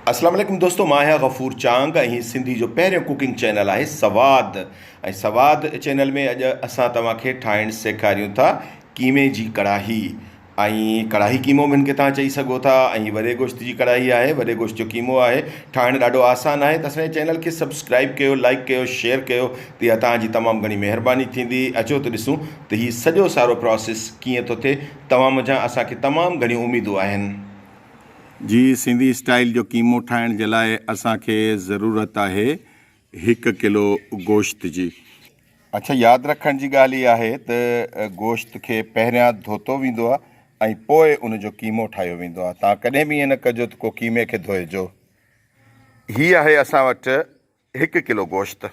اسلام عليڪم دوستو مان آهيان غفور چانگ ۽ هي سنڌي جو پهريون ڪوڪنگ چينل آهي سواد ۽ سواد چينل ۾ اڄ اسان توهان کي ٺاهڻ سيکاريون ٿا قيمي جي ڪڙاهي ۽ ڪڙاهي قيمو به هن کي توهان چئي سگهو ٿا ۽ وڏي گوشت جي ڪڙاهي آهي وڏي گوشت جو قيمو آهي ٺاهڻ ڏاڍو آسان آهي ته اسان جي چينل کي سبسڪرائب ڪيو لائڪ ڪيو شيئر ڪيو ته اها توهان جي تمام گهڻي مهرباني ٿيندي اچو ته ڏسون ته هي سڄو سارو پراسيس ڪيئن ٿو ٿئي توهان منجهان اسان کي تمام گهڻيون اميدون آهن. جي سنڌي اسٽائيل جو قيمو ٺاهڻ جي لاء اسان کي ضرورت آهي هڪ ڪلو گوشت جي اڇا ياد رکڻ جي ڳالهه هي آهي ته گوشت کي پهريان ڌوتو ويندو آهي ۽ پوء ان جو قيمو ٺاهيو ويندو آهي تان ڪڏهن به ائين نه ڪجو ته ڪو قيمي کي ڌوئي جو هي آهي اسان وٽ هڪ ڪلو گوشت.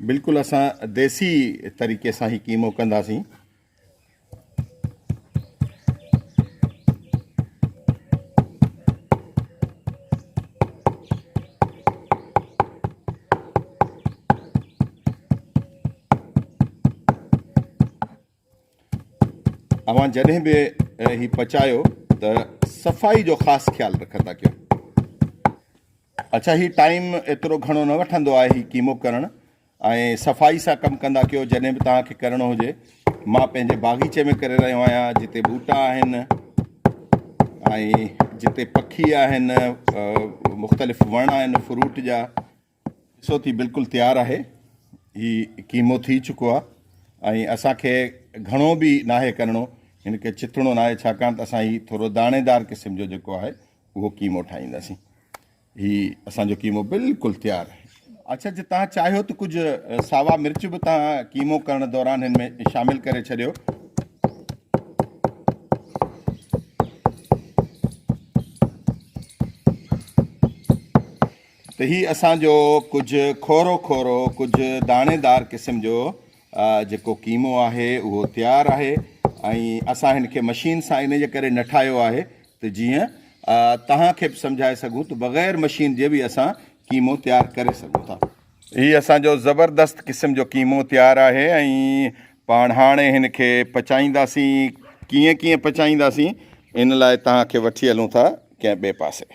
بلڪل اسان ديسي طريقي سان هي قيمو ڪنداسين اوهان جڏهن به هي پچايو ته صفائي جو خاص خيال رکندا ڪيو. اڇا هي ٽائيم ايترو گهڻو نه وٺندو آهي هي ڪيمو ڪرڻ ۽ صفائي سان ڪم ڪندا ڪيو جڏهن به توهان کي ڪرڻو هجي مان پنهنجي باغيچي ۾ ڪري رهيو آهيان جتي ٻوٽا آهن ۽ جتي پکي آهن مختلف وڻ آهن فروٽ جا ڏسو ٿي بلڪل تيار آهي هي قيمو ٿي چڪو آهي ۽ اسان کي گهڻو به ناهي ڪرڻو هن کي چتڻو ناهي ڇاڪاڻ ته اسان هي ٿورو داڻيدار قسم جو جيڪو آهي اهو قيمو ٺاهينداسين هي اسان جو قيمو بلڪل تيار آهي اچھا جي تان چاهيو ته ڪجھ ساوا مرچ به تان قيمو ڪرڻ دوران هن ۾ شامل ڪري ڇڏيو ته هي اسان جو ڪجهه کورو کورو ڪجهه داڻي دار قسم جو جيڪو قيمو آهي اهو تيار آهي ۽ اسان هن کي مشين سان ان جي ڪري نه ٺاهيو آهي ته جيئن توهان کي به سمجهائي سگهون ته بغير مشين جي به اسان قيمو تيار ڪري سگهون ٿا. هي اسان جو زبردست قسم جو قيمو تيار آهي ۽ پاڻ هاڻي هن کي پچائينداسين، ڪيئن ڪيئن پچائينداسين ان لاء توهان کي وٺي هلون ٿا ڪنهن ٻئي پاسي.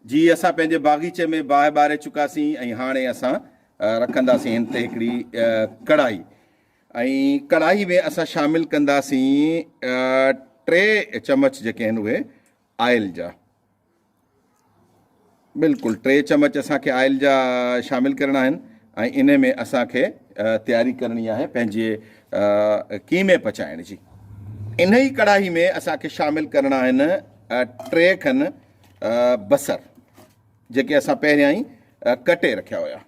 جي اسان پنهنجي باغيچي ۾ باهه ٻاري چڪاسين ۽ هاڻي اسان رکنداسين هن تي هڪڙي ڪڙائي ۽ ڪڙائي ۾ اسان شامل ڪنداسين ٽي چمچ جيڪي آهن اهي آئل جا بلڪل ٽي چمچ اسان کي آئل جا شامل ڪرڻا آهن ۽ ان ۾ اسان کي تياري ڪرڻي آهي پنهنجي قيمي پچائڻ جي ان ئي ڪڙاهي ۾ اسان کي شامل ڪرڻا آهن ٽي کن بصر جيڪي اسان پهريان ئي ڪٽي رکيا هيا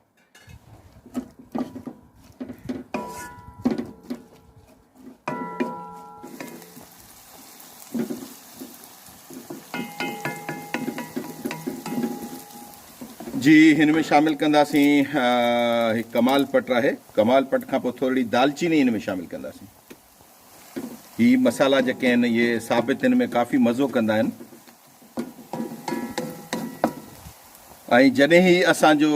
جي هن ۾ شامل ڪنداسين هڪ ڪمال پٽ آهي ڪمال پٽ کان پوء ٿورڙي دالچيني هن ۾ شامل ڪنداسين هي مسالا جيڪي آهن اهي ثابت هن ۾ ڪافي مزو ڪندا آهن ۽ جڏهن هي اسان جو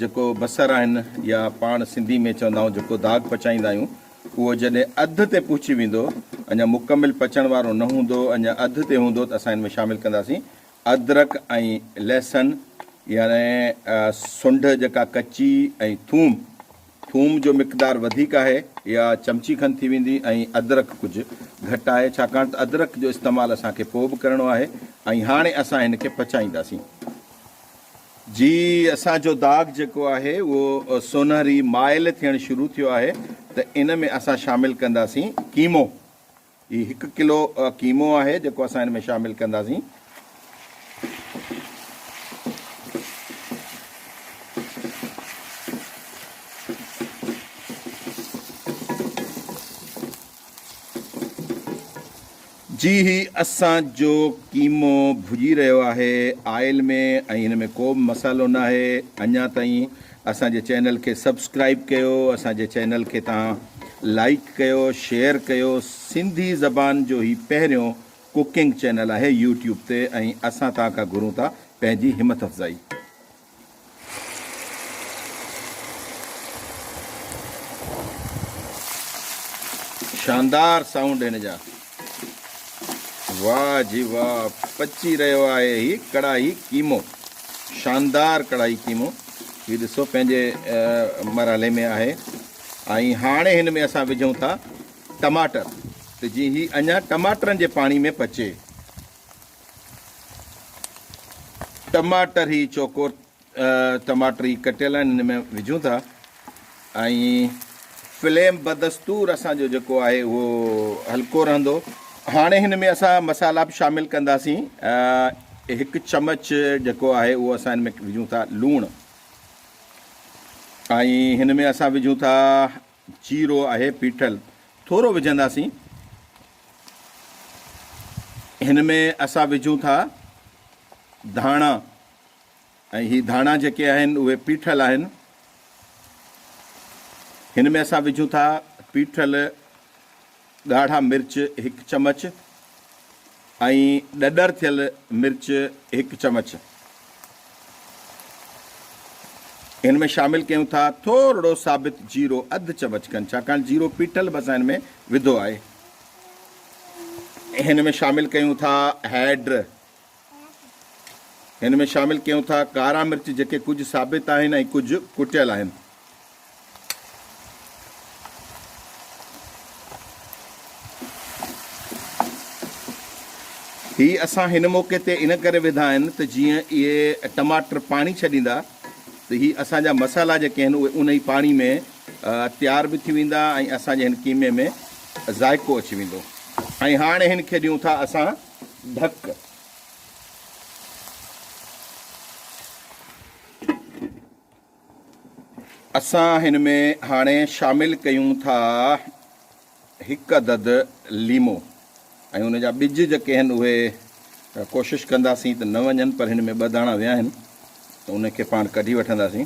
جيڪو بصر آهن يا پاڻ سنڌي ۾ چوندا آهيون جيڪو داغ پچائيندا آهيون اهو جڏهن اڌ تي پهچي ويندو اڃا مڪمل پچڻ وارو نه هوندو اڃا اڌ تي هوندو ته اسان هن ۾ شامل ڪنداسين ادرک ۽ لهسن يعني سنڊ جيڪا ڪچي ۽ ٿوم ٿوم جو مقدار وڌيڪ آهي اها چمچي کن ٿي ويندي ۽ ادرڪ ڪجهه گهٽ آهي ڇاڪاڻ ته ادرڪ جو استعمال اسان کي پوء به ڪرڻو آهي ۽ هاڻي اسان هن کي پچائينداسين جي اسان جو داغ جيڪو آهي اهو سونهري مائل ٿيڻ شروع ٿيو آهي ته ان ۾ اسان شامل ڪنداسين قيمو هي هڪ ڪلو قيمو آهي جيڪو اسان هن ۾ شامل ڪنداسين. جي هي اسان جو قيمو ڀڄي رهيو آهي آئل ۾ ۽ هن ۾ ڪو به مصالحو ناهي اڃا تائين اسان جي چينل کي سبسڪرائب ڪيو اسان جي چينل کي تهان لائيڪ ڪيو شيئر ڪيو سنڌي زبان جو هي پهريون ڪوڪنگ چينل آهي يوٽيوب تي ۽ اسان تهان کان گهرون ٿا پنهنجي همٿ افزائي. شاندار سائونڊ هن جا. واه جي واه پچي رهيو آهي هي ڪڙاهي قيمو شاندار ڪڙاهي قيمو هي ڏسو پنهنجي مرحلي ۾ آهي ۽ هاڻي هن ۾ اسان وجهون ٿا ٽماٽر ته جي هي اڃا ٽماٽرن جي پاڻي ۾ پچي ٽماٽر هي چوڪور ٽماٽر هي ڪٽيل آهن هن ۾ وجهون ٿا ۽ فليم بدستور اسان جو جيڪو آهي اهو هلڪو رهندو هاڻي هن ۾ اسان مسالا به شامل ڪنداسين هڪ چمچ جيڪو آهي اهو اسان هن ۾ وجهون ٿا لوڻ ۽ هن ۾ اسان وجهون ٿا جيرو آهي پيٺل ٿورو وجهنداسين هن ۾ اسان وجهون ٿا ڌاڻا ۽ هي ڌاڻا جيڪي آهن اهي پيٺل آهن هن ۾ اسان وجهون ٿا پيٺل ڳاڙها مرچ هڪ چمچ ۽ ڏڏر ٿيل مرچ هڪ چمچ ان ۾ شامل ڪيون ٿا ٿورڙو ثابت جيرو اڌ چمچ کن ڇاڪاڻ جيرو پيٽل به اسان هن ۾ وڌو آهي هن ۾ شامل ڪيون ٿا هيڊ هن ۾ شامل ڪيون ٿا ڪارا مرچ جيڪي ڪجهه ثابت آهن ۽ ڪجهه ڪٽيل آهن. هي اسان هن موقعي تي ان ڪري وڌا آهن ته جيئن اهي ٽماٽر پاڻي ڇڏيندا ته هي اسان جا مسالا جيڪي آهن اهي ان ئي پاڻي ۾ تيار به ٿي ويندا ۽ اسان جي هن قيمي ۾ ذائقو اچي ويندو ۽ هاڻي هن کي ڏيون ٿا اسان ڍڪ. اسان هن ۾ هاڻي شامل ڪيون ٿا هڪ عدد ليمو ۽ ان جا ٻج جيڪي آهن اهي ڪوشش ڪنداسين ته نه وڃن پر هن ۾ ٻه داڻا ويا آهن ته ان کي پاڻ ڪڍي وٺنداسين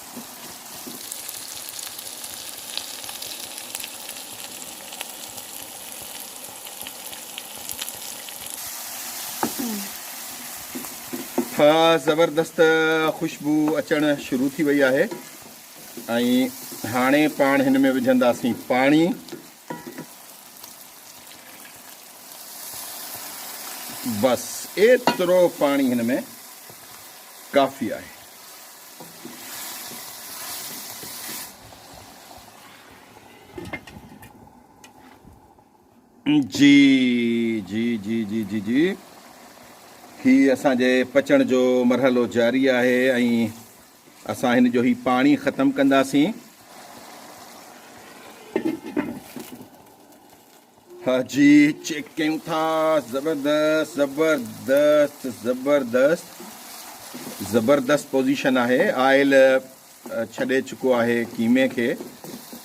زبردست خوشبو اچڻ شروع ٿي وئي آهي ۽ هاڻي پاڻ هن ۾ وجهنداسين پاڻي بس ايترو پاڻي هن ۾ ڪافي آهي جي جي جي جي جي جي هي اسان جي پچڻ جو مرحلو جاري آهي ۽ اسان هن جو هي پاڻي ختم ڪنداسين جي چيڪ ڪيون ٿا زبردست زبردست زبردست زبردست پوزيشن آهي آئل ڇڏي چڪو آهي قيمي کي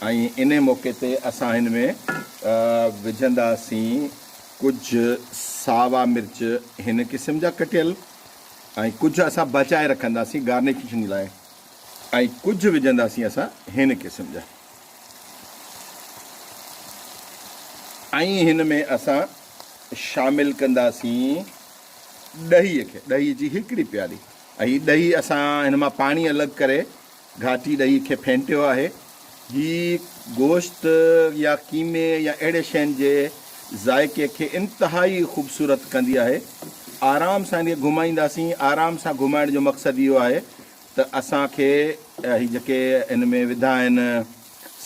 ۽ ان موقعي تي اسان هن ۾ وجهنداسين ڪجھ ساوا مرچ هن قسم جا ڪٽيل ۽ ڪجھ اسان بچائي رکنداسين گارنيشن لاء ۽ ڪجھ وجهنداسين اسان هن قسم جا ۽ هن ۾ اسان شامل ڪنداسين ڏهيء کي، ڏهيء جي هڪڙي پيالي. هي ڏهي اسان هن مان پاڻي الڳ ڪري گهاٽي ڏهيء کي ڦينٽيو آهي. هي گوشت يا قيمي يا اهڙي شين جي ذائقي کي انتهائي خوبصورت ڪندي آهي. آرام سان هن کي گهمائينداسين، آرام سان گهمائڻ جو مقصد اهو آهي. ته اسان کي هي جيڪي هن ۾ وڌا آهن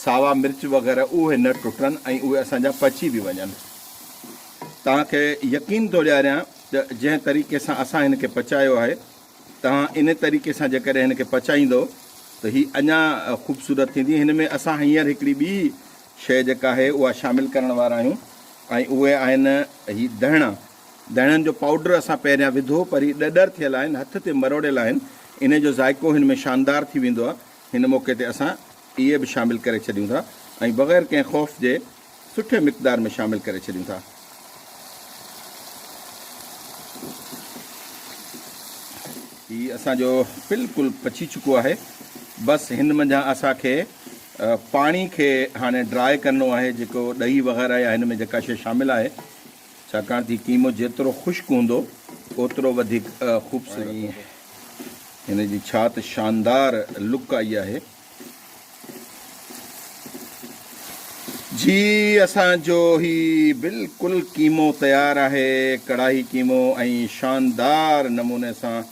ساوا مرچ وغيره اهي نه ٽٽن ۽ اهي اسان جا پچي به وڃن توهان کي يقين ٿو ڏياريان ته جنهن طريقي سان اسان هن کي پچايو آهي توهان ان طريقي سان جيڪڏهن هن کي پچائيندو ته هي اڃا خوبصورت ٿيندي هن ۾ اسان هينئر هڪڙي ٻي شيء جيڪا آهي اها شامل ڪرڻ وارا آهيون ۽ اهي آهن هي دهڻا داڻن جو پائوڊر اسان پهريان وڌو پر هي ڏڏر ٿيل آهن هٿ تي مروڙيل آهن انهي جو ذائقو هن ۾ شاندار ٿي ويندو آهي هن موقعي تي اسان اهي به شامل ڪري ڇڏيون ٿا ۽ بغير ڪنهن خوف جي سٺي مقدار ۾ شامل ڪري ڇڏيون ٿا. هي اسان جو بلڪل پچي چڪو آهي بس هن منجهان اسان کي پاڻي کي هاڻي ڊرائي ڪرڻو آهي جيڪو ڏهي وغيره يا هن ۾ جيڪا شي شامل آهي ڇاڪاڻ تھ قيمو جيترو خشڪ ھوندو اوترو وڌيڪ خوبصورت ھوندو. ھن جي ڇا تھ شاندار لڪ آئي آھي. جي اسان جو ھي بلڪل قيمو تيار آھي. ڪڙاھي قيمو ۽ شاندار نموني سان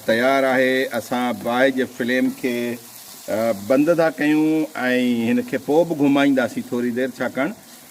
تيار آھي. اسان باھه جي فليم کي بند ٿا ڪيون ۽ ھن کي پوء بھ گھمائينداسين ٿوري دير ڇاڪاڻ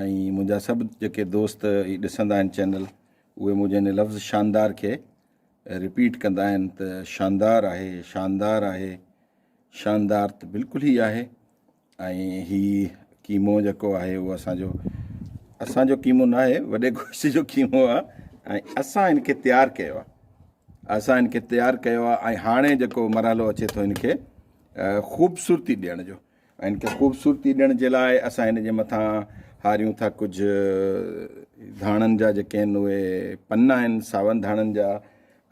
۽ منهنجا سڀ جيڪي دوست هي ڏسندا آهن چينل اهي منهنجي هن لفظ شاندار کي رپيٽ ڪندا آهن ته شاندار آهي شاندار آهي شاندار ته بلڪل هي آهي ۽ هي ڪيمو جيڪو آهي اهو اسانجو اسانجو ڪيمو نه آهي وڏي گوشت جو ڪيمو آهي ۽ اسان هن کي تيار ڪيو آهي اسان هن کي تيار ڪيو آهي ۽ هاڻي جيڪو مرحلو اچي ٿو هن کي خوبصورتي ڏيڻ جو ان کي خوبصورتي ڏيڻ جي لاء اسان ان جي مٿان هاريون ٿا ڪجهه ڌاڻن جا جيڪي آهن اهي پنا آهن ساون ڌاڻن جا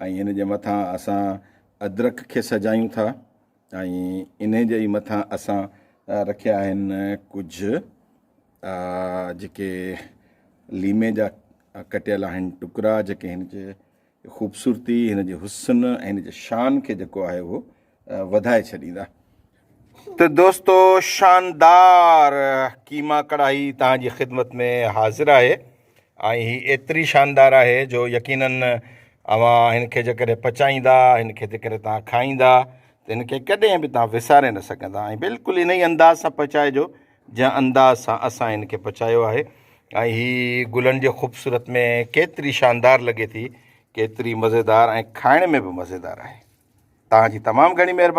۽ ان جي مٿان اسان ادرک کي سجايون ٿا ۽ ان جي مٿان اسان رکيا آهن ڪجهه جيڪي ليمي جا ڪٽيل آهن ٽڪرا جيڪي هن جي خوبصورتي، هن جي حسن ۽ هن جي شان کي جيڪو آهي اهو وڌائي ڇڏيندا. ته دوستو شاندار قيما ڪڙاهي توهان جي خدمت ۾ حاضر آهي ۽ هي ايتري شاندار آهي جو يقينن اوهان هن کي جيڪڏهن پچائيندا هن کي جيڪڏهن توهان کائيندا ته هن کي ڪڏهن به توهان وساري نه سگهندا ۽ بلڪل انهي انداز سان پچائجو جنهن انداز سان اسان هن کي پچايو آهي ۽ هي گلن جي خوبصورت ۾ ڪيتري شاندار لڳي ٿي ڪيتري مزيدار ۽ کائڻ ۾ به مزيدار آهي تهان جي تمام گهڻي مهرباني.